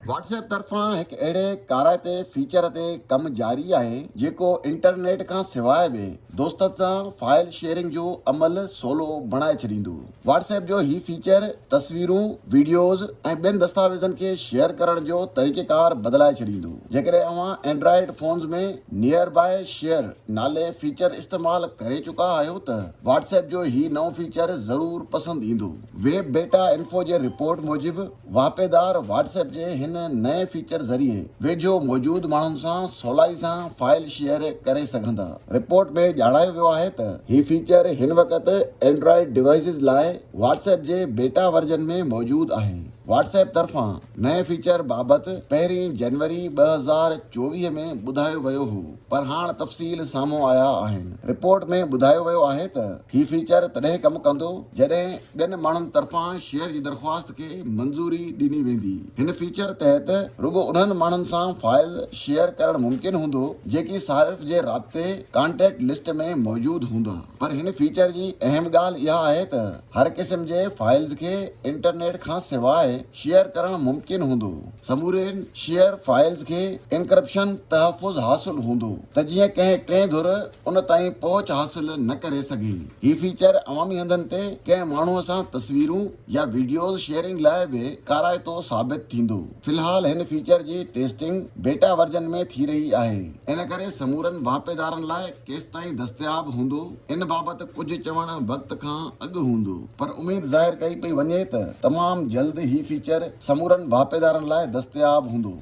Whats app طرفان هڪ اهڙي ڪارائتي فيچر تي ڪم جاري آهي جيڪو انٽرنيٽ کان سواء به دوستن سان فائل شيئرنگ جو عمل سولو بڻائي ڇڏيندو. واٽس ايپ جو هي فيچر تصويرون، وڊيوز ۽ ٻين دستاويزن کي شيئر ڪرڻ جو طريقيڪار بدلائي ڇڏيندو. جيڪڏهن اوهان Android phones ۾ near by share نالي فيچر استعمال ڪري چڪا آهيو ته واٽس ايپ جو هي نئون فيچر ضرور پسند ايندو. ويب بيٽا انفو جي رپورٽ موجب، واهپيدار واٽس ايپ جي هن نئين فيچر ذريعي ويجهو موجود ماڻهن سان سولائي سان فائل شيئر ڪري سگهندا. رپورٽ ۾ ڄاڻايو ويو آهي ته هي فيچر هن وقت اينڊرائيڊ ڊوائيسز لاء واٽس ايپ جي بيٽا ورجن ۾ موجود آهي. واٽس ايپ طرفان نئين فيچر بابت پهرين جنوري ٻه هزار چوويهه ۾ ٻڌايو ويو هو. پر هاڻ تفصيل سامهون آيا آهن. رپورٽ ۾ ٻڌايو ويو آهي ته هي فيچر تڏهن ڪم ڪندو جڏهن ٻين ماڻهن طرفان شيئر جي درخواست کي منظوري ڏني ويندي. هن فيچر تحت رڳو انهن ماڻهن سان فائل شيئر ڪرڻ ممڪن هوندو جيڪي صارف جي رابطي، Contact List، ۾ موجود هوندا. پر هن فيچر جي اهم ڳالهه اها آهي ته هر قسم جي فائلز کي انٽرنيٽ کان سواء شيئر ڪرڻ ممڪن هوندو. سمورين شيئر فائلز کي انڪرپشن تحفظ حاصل هوندو ته جيئن ڪنهن ٽئين ڌر ان تائين پهچ حاصل نه ڪري سگهي. هي فيچر عوامي هنڌن تي ڪنهن ماڻهو سان تصويرون يا وڊيوز شيئرنگ لاء به ڪارائتو ثابت ٿيندو. في الحال هن فيچر جي ٽيسٽنگ بيٽا ورجن ۾ ٿي رهي آهي. ان ڪري سمورن واهپيدارن لاء ڪيستائين دستياب هوندو ان بابت ڪجهه چوڻ وقت کان اڳ هوندو. پر اميد ظاهر ڪئي پئي وڃي ته تمام جلد هي فيچر سمورن واهپيدارن لاء دستياب هوندو.